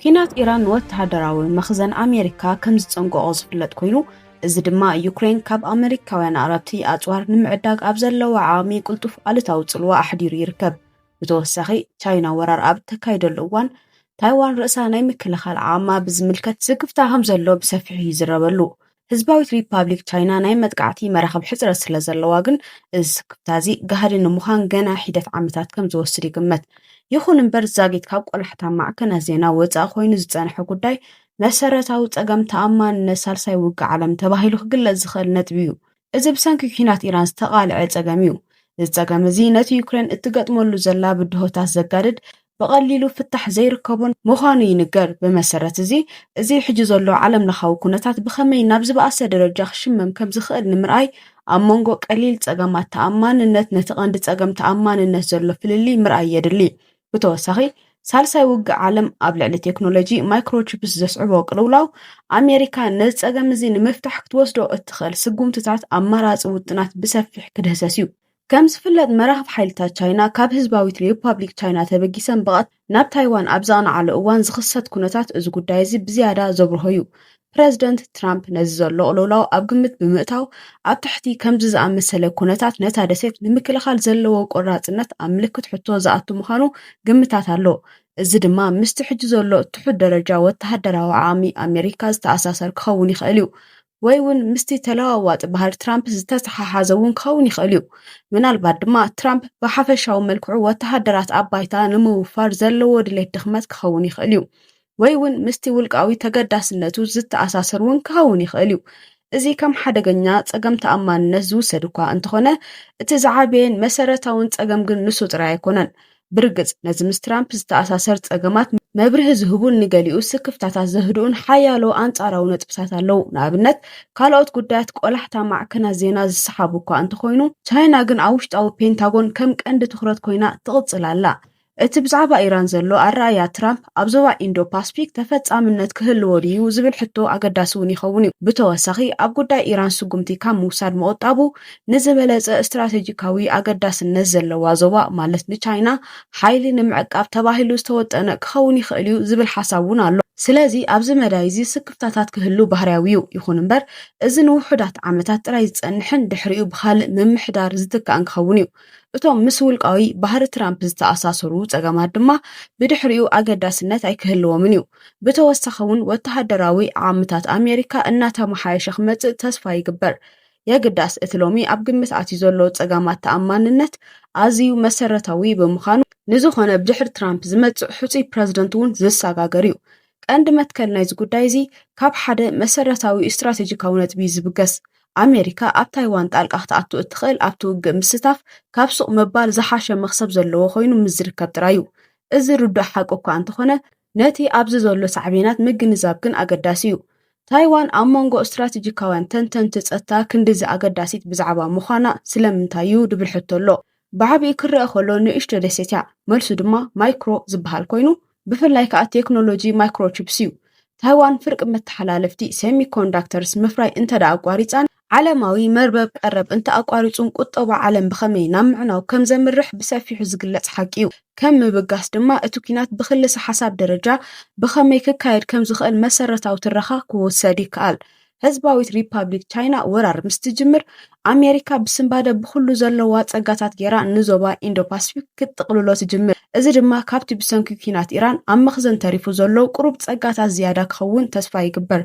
ኲናት ኢራን ንወተሃደራዊ መኽዘን ኣሜሪካ ከም ዝጸንቀቖ ዝፍለጥ ኮይኑ እዚ ድማ ዩክሬን ካብ ኣመሪካውያን ኣቕረብቲ ኣጽዋር ንምዕዳግ ኣብ ዘለዋ ዓቕሚ ቅልጡፍ ኣሉታዊ ጽልዋ ኣሕዲሩ ይርከብ። ብተወሳኺ ቻይና ወራር ኣብ እተካይደሉ እዋን ታይዋን ርእሳ ናይ ምክልኻል ዓቕማ ብዝምልከት ስክፍታ ከም ዘሎ ብሰፊሑ ይዝረበሉ። ህዝባዊት ሪፓብሊክ ቻይና ናይ መጥቃዕቲ መራኽብ ሕጽረት ስለ ዘለዋ ግን እዚ ስክፍታ እዚ ጋህዲ ንምዃን ገና ሒደት ዓመታት ከም ዝወስድ ይግመት። ይኹን እምበር ዛጊት ካብ ቆላሕታ ማዕከናት ዜና ወጻኢ ኮይኑ ዝጸንሐ ጉዳይ መሰረታዊ ጸገም ተኣማንነት ሳልሳይ ውግእ ዓለም ተባሂሉ ክግለጽ ዝኽእል ነጥቢ እዩ። እዚ ብሰንኪ ኲናት ኢራን ዝተቓልዐ ጸገም እዩ። እዚ ጸገም እዚ ነቲ ዩክሬን እትገጥመሉ ዘላ ብድሆታት ዘጋድድ ብቐሊሉ ፍታሕ ዘይርከቡን ምዃኑ ይንገር። ብመሰረት እዚ፣ እዚ ሕጂ ዘሎ ዓለም ለኻዊ ኩነታት ብኸመይ ናብ ዝበኣሰ ደረጃ ክሽመም ከም ዝኽእል ንምርኣይ፣ ኣብ መንጎ ቀሊል ጸገማት ተኣማንነት ነቲ ቀንዲ ጸገም ተኣማንነት ዘሎ ፍልልይ ምርኣይ የድሊ። ብተወሳኺ፣ ሳልሳይ ውግእ ዓለም ኣብ ልዕሊ ቴክኖሎጂ ማይክሮቺፕስ ዘስዕቦ ቅልውላው፣ ኣሜሪካ ነዚ ጸገም እዚ ንምፍታሕ ክትወስዶ እትኽእል ስጉምትታት ኣማራጺ ውጥናት ብሰፊሕ ክድህሰስ እዩ። ከም ዝፍለጥ መራኽብ ሓይልታት ቻይና ካብ ህዝባዊት ሪፓብሊክ ቻይና ተበጊሰን ብቐት ናብ ታይዋን ኣብ ዘቕንዓሉ እዋን ዝኽሰት ኩነታት እዚ ጉዳይ እዚ ብዝያዳ ዘብርሆ እዩ። ፕረዚደንት ትራምፕ ነዚ ዘሎ ቅልውላው ኣብ ግምት ብምእታው ኣብ ትሕቲ ከምዚ ዝኣመሰለ ኩነታት ነታ ደሴት ንምክልኻል ዘለዎ ቆራፅነት ኣብ ምልክት ሕቶ ዝኣቱ ምዃኑ ግምታት ኣሎ። እዚ ድማ ምስቲ ሕጂ ዘሎ ትሑት ደረጃ ወተሃደራዊ ዓቕሚ ኣሜሪካ ዝተኣሳሰር ክኸውን ይኽእል እዩ። ወይ እውን ምስቲ ተለዋዋጢ ባህሪ ትራምፕ ዝተተሓሓዘ እውን ክኸውን ይኽእል እዩ። ምናልባት ድማ ትራምፕ ብሓፈሻዊ መልክዑ ወተሃደራት ኣብ ባይታ ንምውፋር ዘለዎ ድሌት ድኽመት ክኸውን ይኽእል እዩ። ወይ እውን ምስቲ ውልቃዊ ተገዳስነቱ ዝተኣሳሰር እውን ክኸውን ይኽእል እዩ። እዚ ከም ሓደገኛ ጸገም ተኣማንነት ዝውሰድ እኳ እንተኾነ እቲ ዝዓበየን መሰረታውን ጸገም ግን ንሱ ጥራይ ኣይኮነን። ብርግጽ፣ ነዚ ምስ ትራምፕ ዝተኣሳሰር ጸገማት መብርሂ ዝህቡን ንገሊኡ ስክፍታታት ዘህድኡን ሓያሎ ኣንጻራዊ ነጥብታት ኣለዉ። ንኣብነት፣ ካልኦት ጉዳያት ቆላሕታ ማዕከናት ዜና ዝሰሓቡ እኳ እንተኾይኑ፣ ቻይና ግን ኣብ ውሽጣዊ ፔንታጎን ከም ቀንዲ ትኹረት ኮይና ትቕጽል ኣላ። እቲ ብዛዕባ ኢራን ዘሎ ኣረኣእያ ትራምፕ ኣብ ዞባ ኢንዶ-ፓስፊክ ተፈጻምነት ክህልዎ ድዩ ዝብል ሕቶ ኣገዳሲ እውን ይኸውን እዩ። ብተወሳኺ፣ ኣብ ጉዳይ ኢራን ስጉምቲ ካብ ምውሳድ ምቑጣቡ ንዝበለፀ ስትራቴጂካዊ ኣገዳስነት ዘለዋ ዞባ ማለት ንቻይና ሓይሊ ንምዕቃብ ተባሂሉ ዝተወጠነ ክኸውን ይኽእል እዩ ዝብል ሓሳብ እውን ኣሎ። ስለዚ ኣብዚ መዳይ እዚ ስክፍታታት ክህሉ ባህርያዊ እዩ። ይኹን እምበር እዚ ንውሑዳት ዓመታት ጥራይ ዝፀንሕን ድሕሪኡ ብኻልእ ምምሕዳር ዝትካእን ክኸውን እዩ። እቶም ምስ ውልቃዊ ባህሪ ትራምፕ ዝተኣሳሰሩ ፀገማት ድማ ብድሕሪኡ ኣገዳስነት ኣይክህልዎምን እዩ። ብተወሳኺ እውን ወተሃደራዊ ዓቕምታት ኣሜሪካ እናተመሓየሸ ክመፅእ ተስፋ ይግበር። የግዳስ እቲ ሎሚ ኣብ ግምት ኣትዩ ዘሎ ጸጋማት ተኣማንነት ኣዝዩ መሰረታዊ ብምዃኑ ንዝኾነ ብድሕሪ ትራምፕ ዝመጽእ ሕጹይ ፕረዚደንት እውን ዝሰጋገር እዩ። ቀንዲ መትከል ናይዚ ጉዳይ እዚ ካብ ሓደ መሰረታዊ ስትራቴጂካዊ ነጥቢ እዩ ዝብገስ። ኣሜሪካ ኣብ ታይዋን ጣልቃ ክትኣቱ እትኽእል ኣብቲ ውግእ ምስታፍ ካብ ሱቕ ምባል ዝሓሸ መኽሰብ ዘለዎ ኮይኑ ምስ ዝርከብ ጥራይ እዩ። እዚ ርዱእ ሓቂ እኳ እንተኾነ ነቲ ኣብዚ ዘሎ ሳዕቤናት ምግንዛብ ግን ኣገዳሲ እዩ። ታይዋን ኣብ መንጎ ስትራቴጂካውያን ተንተንቲ ጸጥታ ክንድዚ ኣገዳሲት ብዛዕባ ምዃና ስለምንታይ እዩ ድብል ሕቶ ኣሎ። ብዓቢኡ ክረኣ ከሎ ንእሽቶ ደሴት እያ፣ መልሱ ድማ ማይክሮ ዝበሃል ኮይኑ፣ ብፍላይ ከኣ ቴክኖሎጂ ማይክሮቺፕስ እዩ። ታይዋን ፍርቂ መተሓላለፍቲ፣ ሴሚኮንዳክተርስ፣ ምፍራይ እንተደኣ ኣቋሪጻን ዓለማዊ መርበብ ቀረብ እንተኣቋሪጹን ቁጠባ ዓለም ብኸመይ ናብ ምዕናው ከም ዘምርሕ ብሰፊሑ ዝግለጽ ሓቂ እዩ። ከም ምብጋስ ድማ እቲ ኲናት ብክልሰ ሓሳብ ደረጃ ብኸመይ ክካየድ ከም ዝኽእል መሰረታዊ ትረኻ ክውሰድ ይከኣል። ህዝባዊት ሪፓብሊክ ቻይና ወራር ምስ ትጅምር ኣሜሪካ ብስንባደ ብኹሉ ዘለዋ ጸጋታት ገይራ ንዞባ ኢንዶ ፓስፊክ ክትጥቕልሎ ትጅምር እዚ ድማ ካብቲ ብሰንኪ ኲናት ኢራን ኣብ መኽዘን ተሪፉ ዘሎ ቁሩብ ጸጋታት ዝያዳ ክኸውን ተስፋ ይግበር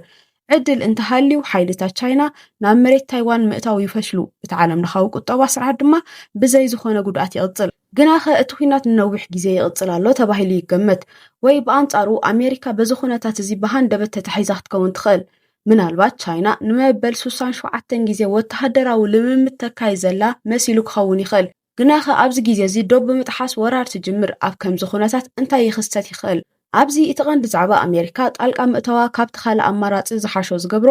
ዕድል እንተሃልዩ ሓይልታት ቻይና ናብ መሬት ታይዋን ምእታው ይፈሽሉ፣ እቲ ዓለምለኻዊ ቁጠባ ስርዓት ድማ ብዘይ ዝኾነ ጉድኣት ይቕጽል። ግናኸ እቲ ኲናት ንነዊሕ ግዜ ይቕጽል ኣሎ ተባሂሉ ይገመት፣ ወይ ብኣንጻሩ ኣሜሪካ በዚ ኩነታት እዚ ብሃንደበት ተታሒዛ ክትከውን ትኽእል። ምናልባት ቻይና ንመበል ሱሳን ሸውዓተን ግዜ ወተሃደራዊ ልምምድ ተካይድ ዘላ መሲሉ ክኸውን ይኽእል። ግናኸ ኣብዚ ግዜ እዚ ዶብ ብምጥሓስ ወራር ትጅምር፣ ኣብ ከምዚ ኩነታት እንታይ ይኽሰት ይኽእል? ኣብዚ እቲ ቀንዲ ዛዕባ ኣሜሪካ ጣልቃ ምእታዋ ካብቲ ካልእ ኣማራጺ ዝሓሾ ዝገብሮ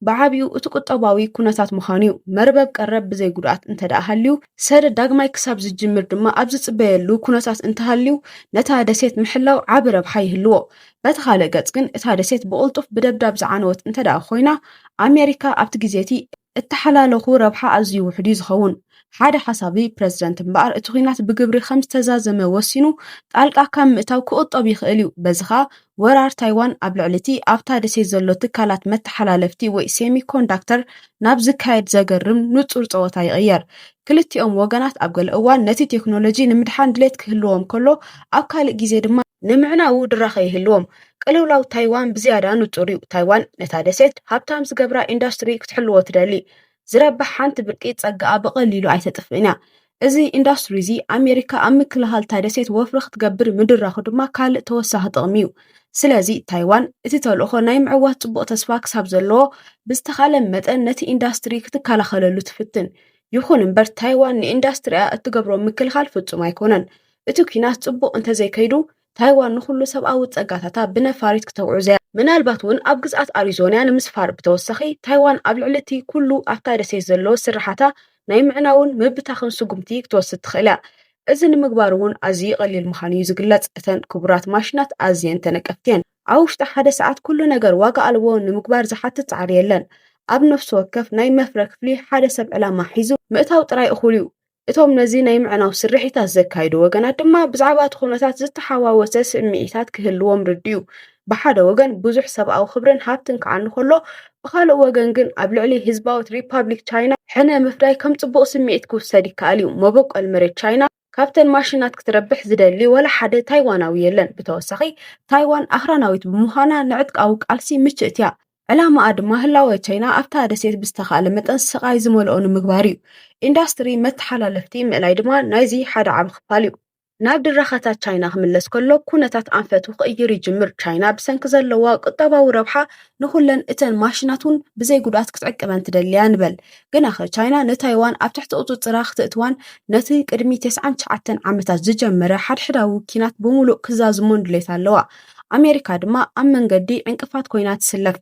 ብዓቢኡ እቲ ቁጠባዊ ኩነታት ምዃኑ እዩ። መርበብ ቀረብ ብዘይ ጉድኣት እንተድኣ ሃልዩ፣ ሰደድ ዳግማይ ክሳብ ዝጅምር ድማ ኣብ ዝጽበየሉ ኩነታት እንተሃልዩ ነታ ደሴት ምሕላው ዓቢ ረብሓ ይህልዎ። በቲ ካልእ ገጽ ግን እታ ደሴት ብቕልጡፍ ብደብዳብ ዝዓነወት እንተድኣ ኮይና ኣሜሪካ ኣብቲ ግዜ እቲ እተሓላለኹ ረብሓ ኣዝዩ ውሑድ እዩ ዝኸውን። ሓደ ሓሳቢ ፕረዚደንት እምበኣር እቲ ኲናት ብግብሪ ከም ዝተዛዘመ ወሲኑ ጣልቃ ካብ ምእታው ክቑጠብ ይኽእል እዩ፣ በዚ ኸኣ ወራር ታይዋን ኣብ ልዕሊ እቲ ኣብታ ደሴት ዘሎ ትካላት መተሓላለፍቲ ወይ ሴሚኮንዳክተር ናብ ዝካየድ ዘገርም ንጹር ጸወታ ይቕየር። ክልቲኦም ወገናት ኣብ ገለ እዋን ነቲ ቴክኖሎጂ ንምድሓን ድሌት ክህልዎም ከሎ፣ ኣብ ካልእ ግዜ ድማ ንምዕናዉ ድራኸ ይህልዎም። ቅልውላው ታይዋን ብዝያዳ ንጹር እዩ። ታይዋን ነታ ደሴት ሃብታም ዝገብራ ኢንዱስትሪ ክትሕልዎ ትደሊ። ዝረብሕ ሓንቲ ብርቂ ጸጋኣ ብቐሊሉ ኣይተጥፍእን እያ። እዚ ኢንዱስትሪ እዚ ኣሜሪካ ኣብ ምክልኻል እታ ደሴት ወፍሪ ክትገብር ምድራኹ ድማ ካልእ ተወሳኺ ጥቕሚ እዩ። ስለዚ ታይዋን እቲ ተልእኾ ናይ ምዕዋት ጽቡቕ ተስፋ ክሳብ ዘለዎ ብዝተኻለ መጠን ነቲ ኢንዱስትሪ ክትከላኸለሉ ትፍትን። ይኹን እምበር ታይዋን ንኢንዱስትሪኣ እትገብሮ ምክልኻል ፍጹም ኣይኮነን። እቲ ኲናት ጽቡቕ እንተዘይከይዱ ታይዋን ንኹሉ ሰብኣዊ ጸጋታታ ብነፋሪት ክተውዕዝ እያ። ምናልባት እውን ኣብ ግዝኣት ኣሪዞንያ ንምስፋር ብተወሳኺ ታይዋን ኣብ ልዕሊ እቲ ኩሉ ኣብታ ደሴት ዘሎ ስርሓታ ናይ ምዕናውን ምብታኽን ስጉምቲ ክትወስድ ትኽእል እያ። እዚ ንምግባር እውን ኣዝዩ ቀሊል ምዃኑ እዩ ዝግለጽ፣ እተን ክቡራት ማሽናት ኣዝየን ተነቀፍቲ እየን። ኣብ ውሽጢ ሓደ ሰዓት ኩሉ ነገር ዋጋ ኣልቦ ንምግባር ዝሓትት ጻዕሪ የለን። ኣብ ነፍሲ ወከፍ ናይ መፍረ ክፍሊ ሓደ ሰብ ዕላማ ሒዙ ምእታው ጥራይ እኹል እዩ። እቶም ነዚ ናይ ምዕናው ስርሒታት ዘካይዱ ወገናት ድማ ብዛዕባ እቲ ኩነታት ዝተሓዋወሰ ስምዒታት ክህልዎም ርድዩ። ብሓደ ወገን ብዙሕ ሰብኣዊ ክብርን ሃብትን ክዓኑ ከሎ ብካልእ ወገን ግን ኣብ ልዕሊ ህዝባዊት ሪፓብሊክ ቻይና ሕነ ምፍዳይ ከም ጽቡቕ ስምዒት ክውሰድ ይከኣል እዩ። መበቆል መሬት ቻይና ካብተን ማሽናት ክትረብሕ ዝደሊ ወላ ሓደ ታይዋናዊ የለን። ብተወሳኺ ታይዋን ኣኽራናዊት ብምዃና ንዕጥቃዊ ቃልሲ ምችእት እያ። ዕላማኣ ድማ ህላወ ቻይና ኣብታ ደሴት ብዝተኻእለ መጠን ስቓይ ዝመልኦ ንምግባር እዩ። ኢንዳስትሪ መተሓላለፍቲ ምእላይ ድማ ናይዚ ሓደ ዓቢ ክፋል እዩ። ናብ ድራኸታት ቻይና ክምለስ ከሎ ኩነታት ኣንፈቱ ክቕይር ይጅምር። ቻይና ብሰንኪ ዘለዋ ቁጠባዊ ረብሓ ንኹለን እተን ማሽናት እውን ብዘይ ጉድኣት ክትዕቅበን ትደሊያ ንበል። ግናኸ ቻይና ንታይዋን ኣብ ትሕቲ ቁጽጽራ ክትእትዋን ነቲ ቅድሚ ቴስዓን ትሽዓተን ዓመታት ዝጀመረ ሓድሕዳዊ ኪናት ብምሉእ ክዛዝሞን ድሌት ኣለዋ። ኣሜሪካ ድማ ኣብ መንገዲ ዕንቅፋት ኮይና ትስለፍ።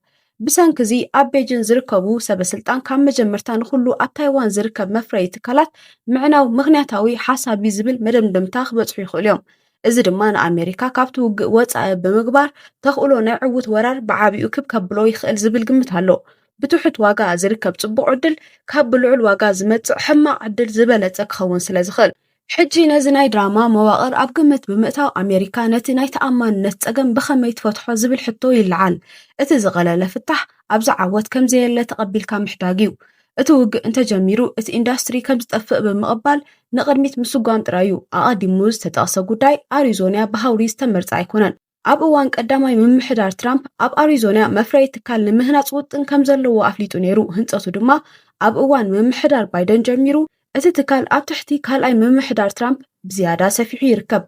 ብሰንኪ እዚ ኣብ ቤጂን ዝርከቡ ሰበስልጣን ካብ መጀመርታ ንኹሉ ኣብ ታይዋን ዝርከብ መፍረዪ ትካላት ምዕናው ምኽንያታዊ ሓሳብ እዩ ዝብል መደምደምታ ክበጽሑ ይኽእሉ እዮም። እዚ ድማ ንኣሜሪካ ካብቲ ውግእ ወጻኢ ብምግባር ተኽእሎ ናይ ዕውት ወራር ብዓቢኡ ክብ ከብሎ ይኽእል ዝብል ግምት ኣሎ። ብትሑት ዋጋ ዝርከብ ጽቡቕ ዕድል ካብ ብልዑል ዋጋ ዝመጽእ ሕማቕ ዕድል ዝበለጸ ክኸውን ስለ ዝኽእል። ሕጂ ነዚ ናይ ድራማ መዋቕር ኣብ ግምት ብምእታው ኣሜሪካ ነቲ ናይ ተኣማንነት ጸገም ብኸመይ ትፈትሖ ዝብል ሕቶ ይለዓል። እቲ ዝቐለለ ፍታሕ ኣብዚ ዓወት ከም ዘየለ ተቐቢልካ ምሕዳግ እዩ። እቲ ውግእ እንተጀሚሩ እቲ ኢንዳስትሪ ከም ዝጠፍእ ብምቕባል ንቕድሚት ምስጓም ጥራይ እዩ። ኣቐዲሙ ዝተጠቕሰ ጉዳይ ኣሪዞንያ ብሃውሪ ዝተመርጸ ኣይኮነን። ኣብ እዋን ቀዳማይ ምምሕዳር ትራምፕ ኣብ ኣሪዞና መፍረዪ ትካል ንምህናፅ ውጥን ከም ዘለዎ ኣፍሊጡ ነይሩ። ህንፀቱ ድማ ኣብ እዋን ምምሕዳር ባይደን ጀሚሩ እቲ ትካል ኣብ ትሕቲ ካልኣይ ምምሕዳር ትራምፕ ብዝያዳ ሰፊሑ ይርከብ።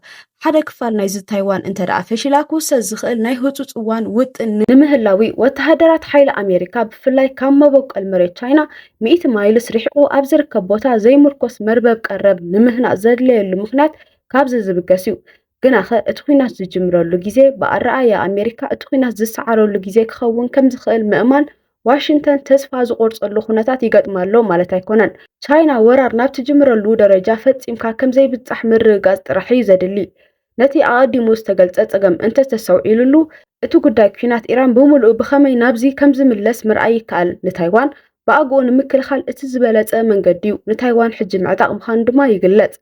ሓደ ክፋል ናይዚ ታይዋን እንተ ደኣ ፈሺላ ክውሰድ ዝኽእል ናይ ህፁፅ እዋን ውጥን ንምህላዊ ወተሃደራት ሓይሊ ኣሜሪካ ብፍላይ ካብ መበቆል መሬት ቻይና ሚእቲ ማይልስ ርሒቑ ኣብ ዝርከብ ቦታ ዘይምርኮስ መርበብ ቀረብ ንምህናፅ ዘድለየሉ ምኽንያት ካብዚ ዝብገስ እዩ። ግናኸ እቲ ኲናት ዝጅምረሉ ግዜ ብኣረኣእያ ኣሜሪካ እቲ ኲናት ዝሰዓረሉ ግዜ ክኸውን ከም ዝኽእል ምእማን ዋሽንግተን ተስፋ ዝቖርጸሉ ኩነታት ይገጥማ ኣሎ ማለት ኣይኮነን። ቻይና ወራር ናብ ትጅምረሉ ደረጃ ፈጺምካ ከም ዘይብጻሕ ምርግጋጽ ጥራሕ እዩ ዘድሊ። ነቲ ኣቐዲሙ ዝተገልጸ ጸገም እንተ ተሰውዒሉሉ፣ እቲ ጉዳይ ኲናት ኢራን ብምሉኡ ብኸመይ ናብዚ ከም ዝምለስ ምርኣይ ይከኣል። ንታይዋን ብኣግኡ ንምክልኻል እቲ ዝበለጸ መንገዲ'ዩ፣ ንታይዋን ሕጂ ምዕጣቕ ምዃኑ ድማ ይግለጽ።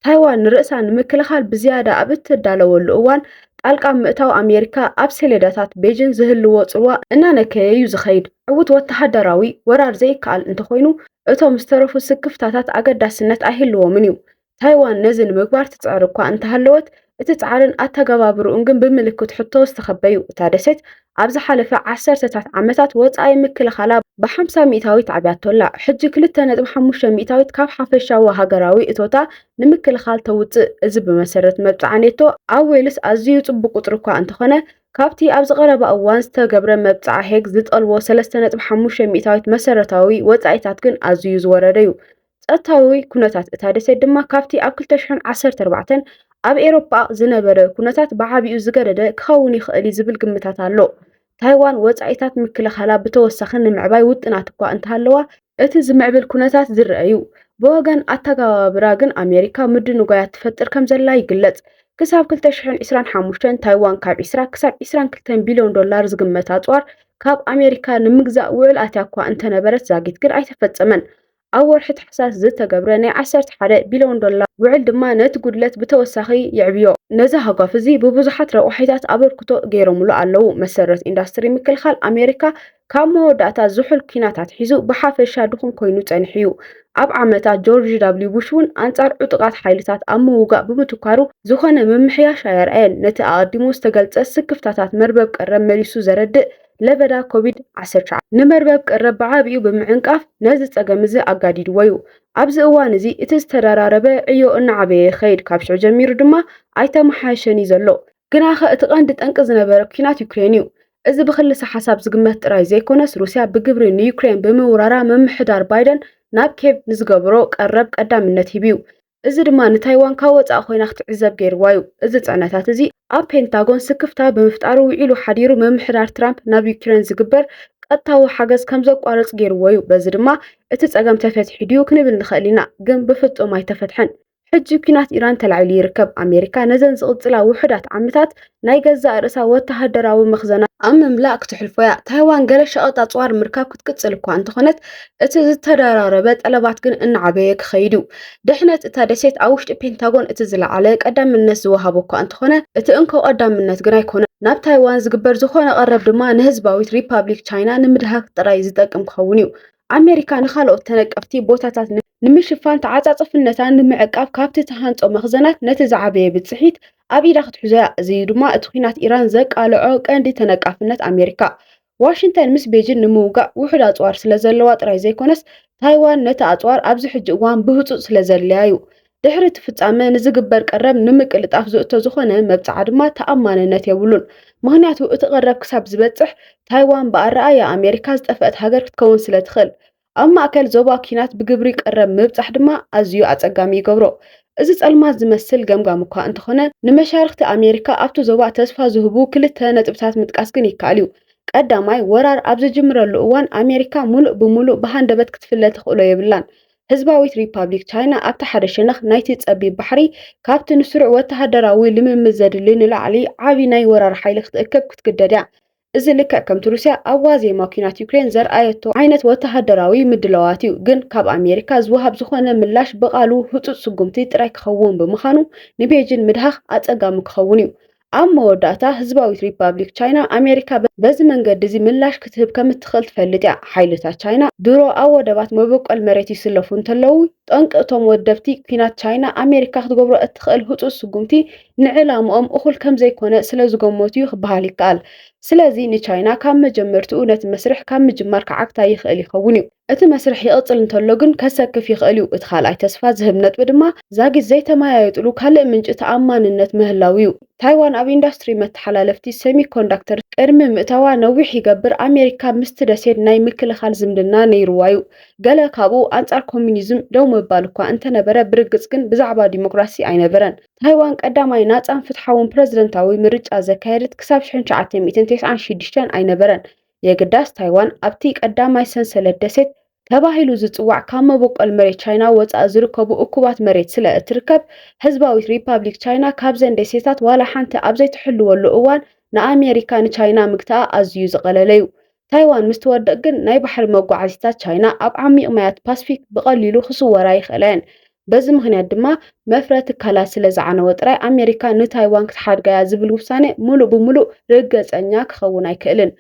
ታይዋን ንርእሳ ንምክልኻል ብዝያዳ ኣብ እትዳለወሉ እዋን ጣልቃ ምእታው ኣሜሪካ ኣብ ሰሌዳታት ቤጂን ዝህልዎ ጽልዋ እናነከየ እዩ ዝኸይድ። ዕዉት ወተሃደራዊ ወራር ዘይከኣል እንተኾይኑ፣ እቶም ዝተረፉ ስክፍታታት ኣገዳስነት ኣይህልዎምን እዩ። ታይዋን ነዚ ንምግባር ትጽዕር እኳ እንተሃለወት፣ እቲ ጻዕርን ኣተገባብርኡን ግን ብምልክት ሕቶ ዝተኸበዩ። እታ ደሴት ኣብ ዝሓለፈ ዓሰርተታት ዓመታት ወጻኢ ምክልኻላ ብ50 ሚእታዊት ኣዕብያቶ'ላ። ሕጂ ክልተ ነጥቢ ሓሙሽተ ሚእታዊት ካብ ሓፈሻዊ ሃገራዊ እቶታ ንምክልኻል ተውጽእ። እዚ ብመሰረት መብጽዓ ኔቶ ኣብ ዌልስ ኣዝዩ ጽቡቕ ቁጽሪ እኳ እንተኾነ፣ ካብቲ ኣብዚ ቀረባ እዋን ዝተገብረ መብጽዓ ሄግ ዝጠልቦ ሰለስተ ነጥቢ ሓሙሽተ ሚእታዊት መሰረታዊ ወጻኢታት ግን ኣዝዩ ዝወረደ'ዩ። ጸጥታዊ ኩነታት እታ ደሴት ድማ ካብቲ ኣብ 2014 ኣብ ኤሮፓ ዝነበረ ኩነታት ብዓቢኡ ዝገደደ ክኸውን ይኽእል እዩ ዝብል ግምታት ኣሎ። ታይዋን ወጻኢታት ምክልኻላ ብተወሳኺ ንምዕባይ ውጥናት እኳ እንተሃለዋ፣ እቲ ዝምዕብል ኩነታት ዝርኣ እዩ። ብወገን ኣተገባብራ ግን ኣሜሪካ ምድንጓያት ትፈጥር ከም ዘላ ይግለጽ። ክሳብ 2025 ታይዋን ካብ 20 ክሳብ 22 ቢልዮን ዶላር ዝግመት ኣጽዋር ካብ ኣሜሪካ ንምግዛእ ውዕል ኣትያ እኳ እንተነበረት ዛጊት ግን ኣይተፈጸመን። ኣብ ወርሒ ታሕሳስ ዝተገብረ ናይ ዓሰርተ ሓደ ቢልዮን ዶላር ውዕል ድማ ነቲ ጉድለት ብተወሳኺ የዕብዮ። ነዚ ሃጓፍ እዚ ብብዙሓት ረቋሒታት ኣበርክቶ ገይሮምሉ ኣለዉ። መሰረት ኢንዳስትሪ ምክልኻል ኣሜሪካ ካብ መወዳእታ ዝሑል ኲናት ኣትሒዙ ብሓፈሻ ድኹም ኮይኑ ጸኒሑ እዩ። ኣብ ዓመታ ጆርጅ ዳብልዩ ቡሽ እውን ኣንጻር ዕጡቓት ሓይልታት ኣብ ምውጋእ ብምትኳሩ ዝኾነ ምምሕያሽ ኣየርኣየን። ነቲ ኣቐዲሙ ዝተገልጸ ስክፍታታት መርበብ ቀረብ መሊሱ ዘረድእ ለበዳ ኮቪድ ዓሰርተ ትሽዓተ ንመርበብ ቀረብ ብዓቢኡ ብምዕንቃፍ ነዚ ጸገም እዚ ኣጋዲድዎ እዩ። ኣብዚ እዋን እዚ እቲ ዝተደራረበ ዕዮ እናዓበየ ይኸይድ፣ ካብ ሽዑ ጀሚሩ ድማ ኣይተመሓየሸን እዩ ዘሎ። ግናኸ እቲ ቀንዲ ጠንቂ ዝነበረ ኲናት ዩክሬን እዩ። እዚ ብክልሰ ሓሳብ ዝግመት ጥራይ ዘይኮነስ ሩስያ ብግብሪ ንዩክሬን ብምውራራ ምምሕዳር ባይደን ናብ ኬቭ ንዝገብሮ ቀረብ ቀዳምነት ሂቡ'ዩ። እዚ ድማ ንታይዋን ካብ ወጻኢ ኮይና ክትዕዘብ ገይርዋ'ዩ። እዚ ጽዕነታት እዚ ኣብ ፔንታጎን ስክፍታ ብምፍጣሩ ውዒሉ ሓዲሩ ምምሕዳር ትራምፕ ናብ ዩክሬን ዝግበር ቀጥታዊ ሓገዝ ከም ዘቋርጽ ገይርዎ'ዩ። በዚ ድማ እቲ ጸገም ተፈቲሑ ድዩ ክንብል ንኽእል ኢና፣ ግን ብፍጹም ኣይተፈትሐን። ሕጂ ኲናት ኢራን ተላዒሉ ይርከብ። ኣሜሪካ ነዘን ዝቕጽላ ውሑዳት ዓምታት ናይ ገዛእ ርእሳ ወተሃደራዊ መኽዘናት ኣብ ምምላእ ክትሕልፎ እያ። ታይዋን ገለ ሸቐጥ ኣጽዋር ምርካብ ክትቅጽል እኳ እንተኾነት፣ እቲ ዝተደራረበ ጠለባት ግን እናዓበየ ክኸይድ እዩ። ድሕነት እታ ደሴት ኣብ ውሽጢ ፔንታጎን እቲ ዝለዓለ ቀዳምነት ዝወሃቦ እኳ እንተኾነ፣ እቲ እንኮ ቀዳምነት ግን ኣይኮነን። ናብ ታይዋን ዝግበር ዝኾነ ቀረብ ድማ ንህዝባዊት ሪፓብሊክ ቻይና ንምድሃክ ጥራይ ዝጠቅም ክኸውን እዩ። ኣሜሪካ ንኻልኦት ተነቀፍቲ ቦታታት ንምሽፋን ተዓጻጽፍነታ ንምዕቃብ ካብቲ ትሃንጾ መኽዘናት ነቲ ዝዓበየ ብጽሒት ኣብ ኢዳ ክትሕዞ'ያ፣ እዚ'ዩ ድማ እቲ ኲናት ኢራን ዘቃልዖ ቀንዲ ተነቃፍነት ኣሜሪካ። ዋሽንተን ምስ ቤጂን ንምውጋእ ውሑድ ኣጽዋር ስለዘለዋ ጥራይ ዘይኮነስ፣ ታይዋን ነቲ ኣጽዋር ኣብዚ ሕጂ እዋን ብህጹጽ ስለዘድልያ'ዩ። ድሕሪ እቲ ፍጻመ ንዝግበር ቀረብ ንምቅልጣፍ ዝእቶ ዝኾነ መብጽዓ ድማ ተኣማንነት የብሉን። ምኽንያቱ እቲ ቀረብ ክሳብ ዝበጽሕ ታይዋን ብኣረኣእያ ኣሜሪካ ዝጠፍአት ሃገር ክትከውን ስለትኽእል። ኣብ ማእከል ዞባ ኲናት ብግብሪ ቀረብ ምብጻሕ ድማ ኣዝዩ ኣጸጋሚ ይገብሮ። እዚ ጸልማት ዝመስል ገምጋም እኳ እንተኾነ፣ ንመሻርኽቲ ኣሜሪካ ኣብቲ ዞባ ተስፋ ዝህቡ ክልተ ነጥብታት ምጥቃስ ግን ይከኣል እዩ። ቀዳማይ፣ ወራር ኣብ ዝጅምረሉ እዋን ኣሜሪካ ምሉእ ብምሉእ ብሃንደበት ክትፍለ ተኽእሎ የብላን። ህዝባዊት ሪፓብሊክ ቻይና ኣብቲ ሓደ ሸነኽ ናይቲ ጸቢብ ባሕሪ ካብቲ ንስሩዕ ወተሃደራዊ ልምምድ ዘድሊ ንላዕሊ ዓቢ ናይ ወራር ሓይሊ ክትእክብ ክትግደድ እያ። እዚ ልክዕ ከምቲ ሩስያ ኣብ ዋዜማ ኲናት ዩክሬን ዘርኣየቶ ዓይነት ወተሃደራዊ ምድላዋት እዩ፣ ግን ካብ ኣሜሪካ ዝወሃብ ዝኾነ ምላሽ ብቓሉ ህጹጽ ስጉምቲ ጥራይ ክኸውን ብምኻኑ ንቤጂን ምድሃኽ ኣጸጋሚ ክኸውን እዩ። ኣብ መወዳእታ፣ ህዝባዊት ሪፓብሊክ ቻይና፣ ኣሜሪካ በዚ መንገዲ እዚ ምላሽ ክትህብ ከም እትኽእል ትፈልጥ እያ። ሓይልታት ቻይና ድሮ ኣብ ወደባት መበቆል መሬት ይስለፉ እንተለዉ፣ ጠንቂ እቶም ወደብቲ ኲናት ቻይና ኣሜሪካ ክትገብሮ እትኽእል ህጹጽ ስጉምቲ ንዕላምኦም እኹል ከም ዘይኮነ ስለ ዝገመቱ'ዩ ክበሃል ይከኣል። ስለዚ ንቻይና ካብ መጀመርትኡ ነቲ መስርሕ ካብ ምጅማር ክዓግታ ይኽእል ይኸውን'ዩ። እቲ መስርሕ ይቕጽል እንተሎ ግን ከሰክፍ ይኽእል'ዩ። እቲ ካልኣይ ተስፋ ዝህብ ነጥቢ ድማ ዛጊት ዘይተመያየጥሉ ካልእ ምንጪ ተኣማንነት ምህላው'ዩ። ታይዋን ኣብ ኢንዳስትሪ መተሓላለፍቲ ሰሚኮንዳክተር ቅድሚ ምእታዋ ነዊሕ ይገብር ኣሜሪካ ምስቲ ደሴት ናይ ምክልኻል ዝምድና ነይሩዋ'ዩ። ገለ ካብኡ ኣንጻር ኮሚኒዝም ደው ምባል'ኳ እንተነበረ ብርግጽ ግን ብዛዕባ ዲሞክራሲ ኣይነበረን። ታይዋን ቀዳማይ ናጻን ፍትሓውን ፕረዚደንታዊ ምርጫ ዘካየደት ክሳብ 1996 ኣይነበረን። የግዳስ ታይዋን ኣብቲ ቀዳማይ ሰንሰለት ደሴት ተባሂሉ ዝጽዋዕ ካብ መበቆል መሬት ቻይና ወጻኢ ዝርከቡ እኩባት መሬት ስለ እትርከብ ህዝባዊት ሪፓብሊክ ቻይና ካብዘን ደሴታት ዋላ ሓንቲ ኣብ ዘይትሕልወሉ እዋን ንኣሜሪካ ንቻይና ምግታኣ ኣዝዩ ዝቐለለ እዩ። ታይዋን ምስ ትወድቕ ግን ናይ ባሕሪ መጓዓዚታት ቻይና ኣብ ዓሚቕ ማያት ፓስፊክ ብቐሊሉ ክስወራ ይኽእላ እየን። በዚ ምኽንያት ድማ መፍረ ትካላት ስለ ዝዓነወ ጥራይ ኣሜሪካ ንታይዋን ክትሓድጋ እያ ዝብል ውሳነ ምሉእ ብምሉእ ርገጸኛ ክኸውን ኣይክእልን።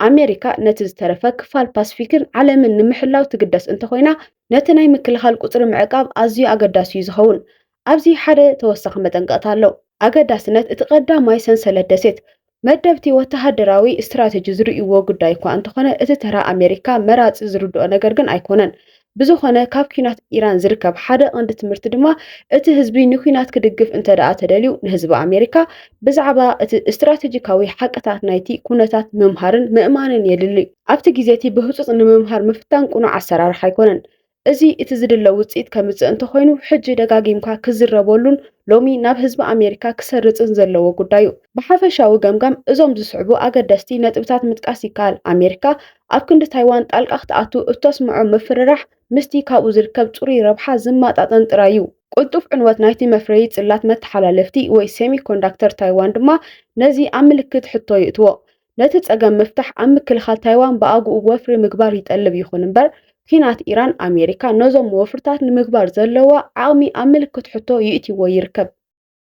ኣሜሪካ ነቲ ዝተረፈ ክፋል ፓስፊክን ዓለምን ንምሕላው ትግደስ እንተኾይና ነቲ ናይ ምክልኻል ቁጽሪ ምዕቃብ ኣዝዩ ኣገዳሲ እዩ ዝኸውን። ኣብዚ ሓደ ተወሳኺ መጠንቀቕታ ኣሎ። ኣገዳስነት እቲ ቀዳማይ ሰንሰለት ደሴት፣ መደብቲ ወተሃደራዊ ስትራቴጂ ዝርእይዎ ጉዳይ እኳ እንተኾነ፣ እቲ ተራ ኣሜሪካ መራጺ ዝርድኦ ነገር ግን ኣይኮነን። ብዝኾነ ካብ ኲናት ኢራን ዝርከብ ሓደ ቐንዲ ትምህርቲ ድማ፣ እቲ ህዝቢ ንኲናት ክድግፍ እንተድኣ ተደልዩ፣ ንህዝቢ ኣሜሪካ ብዛዕባ እቲ ስትራቴጂካዊ ሓቅታት ናይቲ ኩነታት ምምሃርን ምእማንን የድሊ። ኣብቲ ግዜቲ ብህጹጽ ንምምሃር ምፍታን ቅኑዕ ኣሰራርሓ ኣይኮነን። እዚ እቲ ዝድለ ውጽኢት ከምጽእ እንተኾይኑ ሕጂ ደጋጊምካ ክዝረበሉን ሎሚ ናብ ህዝቢ ኣሜሪካ ክሰርጽን ዘለዎ ጉዳይ'ዩ። ብሓፈሻዊ ገምጋም እዞም ዝስዕቡ ኣገደስቲ ነጥብታት ምጥቃስ ይከኣል፣ ኣሜሪካ ኣብ ክንዲ ታይዋን ጣልቃ ክትኣቱ እተስምዖ ምፍርራሕ ምስቲ ካብኡ ዝርከብ ጽሩይ ረብሓ ዝመጣጠን ጥራይ'ዩ። ቅልጡፍ ዕንወት ናይቲ መፍረዪ ጽላት መተሓላለፍቲ ወይ ሴሚኮንዳክተር ታይዋን ድማ ነዚ ኣብ ምልክት ሕቶ የእትዎ። ነቲ ጸገም ምፍታሕ ኣብ ምክልኻል ታይዋን ብኣግኡ ወፍሪ ምግባር ይጠልብ። ይኹን እምበር ኲናት ኢራን ኣሜሪካ ነዞም ወፍርታት ንምግባር ዘለዋ ዓቕሚ ኣብ ምልክት ሕቶ ይእትይዎ ይርከብ።